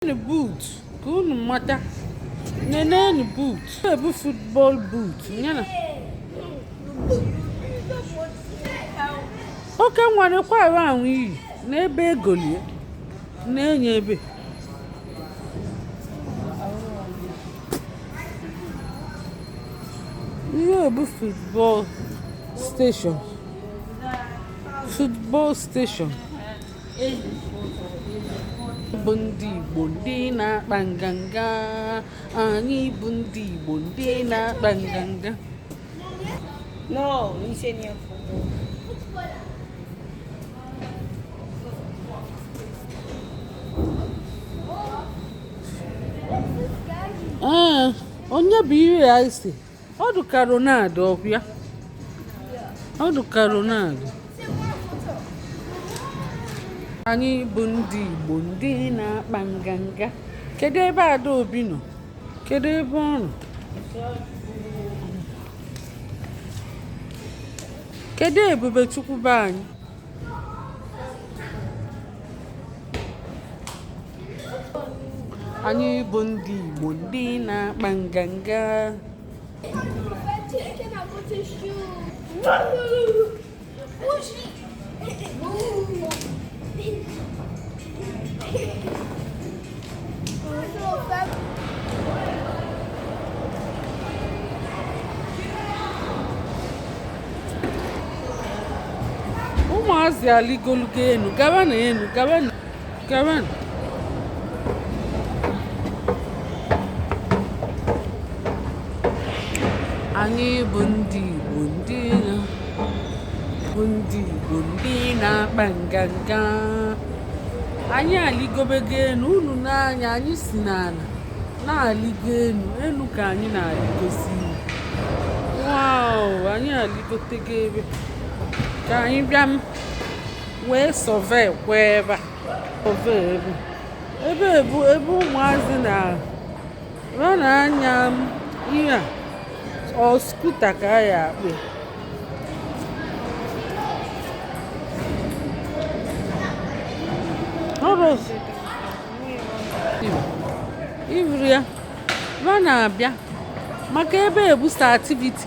nenenu boot ka unu mata nenenu boot a bụ football boot yana oke nwere kwa ahụ ahụ iyi n'ebe egolie na-enye ebe ihe a bụ football station football station bụ ndị Igbo ndị na-akpa nganga anyị bụ ndị Igbo ndị na-akpa nganga no ise ni ọkụ onye buru ya isi ọ dị ka Ronaldo ọ bụ ya ọ dị ka Ronaldo anyị bụ ndị Igbo ndị na-akpa nganga kedu ebe Adaobi nọ kedu ebe ọ nọ kedu Ebubechukwu be anyị anyị bụ ndị Igbo ndị na-akpa nganga ụmụazị aligolugo enu gaba na enu gaba na Karen. Anyị bụ ndị Igbo ndị na bụ ndị Igbo ndị na-akpa nganga. Anyị alịgobego enu unu na anyị anyị si n'ala na-alịgo enu enu ka anyị na-alịgozi. Wow! Anyị alịgotego ebe ka anyị bịa wee survey kwa ebe a survey ebe ebe a bụ ebe ụmụazị na ha na-anya ihe a ọ scooter ka a ya-akpọ ihe a ha na-abịa maka ebe a bụ extra activity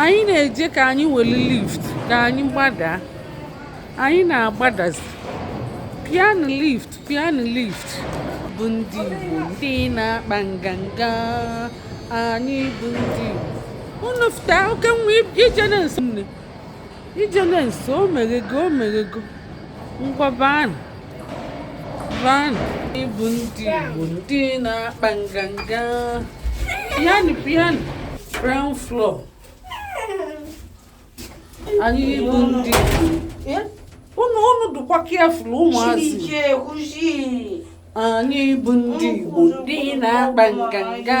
anyị na-eje ka anyị were lift ka anyị gbadaa anyị na-agbadazi pịanụ lift pịanụ lift bụ ndị Igbo ndị na-akpa nganga anyị bụ ndị Igbo unu fụta oke nwa ije na-esi nne ijele nso o meghego o meghego ngwa baanụ baanụ anyị bụ ndị Igbo ndị na-akpa nganga piano piano ground floor anyị bụ ndị unu unu dụkwa careful ụmụazị anyị bụ ndị Igbo ndị na-akpa nganga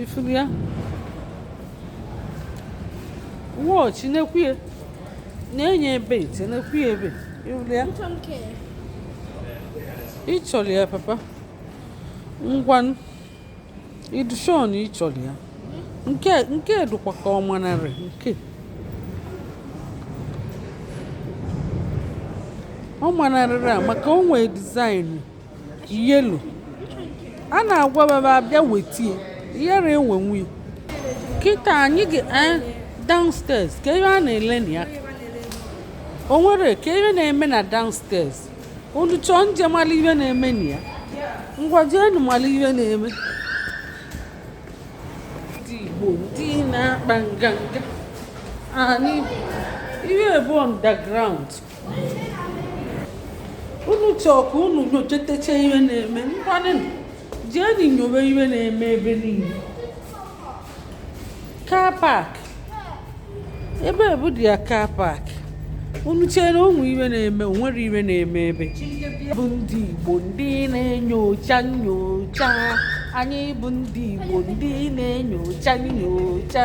ị fụrụ ya watch na-ekwu ya na-enye ebe ite na-ekwu ya ebe ị fụrụ ya ị chọrọ ya papa ngwa ị dụ sure na ị chọrọ ya nke nke dụkwa ka ọ manarị nke ọ manarịrị a maka o nwee design yellow a na-agwa baba abịa wetie ihere enwe nwe kịta anyị ga eh, downstairs ka ihe a na-ele na ya o nwere ka ihe na-eme na downstairs unu chọọ nje mara ihe na-eme na ya ngwa jeenu mara ihe na-eme ndị Igbo ndị na-akpa nganga anyị ihe a bụ underground unu chọọ ka unu nyochatacha ihe na-eme ngwanụ jeenụ nyowe ihe na-eme ebe niile car park ebe a bụ their car park unu chere o nwe ihe na-eme o nwere ihe na-eme ebe bụ ndị Igbo ndị na-enyocha nyocha anyị bụ ndị Igbo ndị na-enyocha nyocha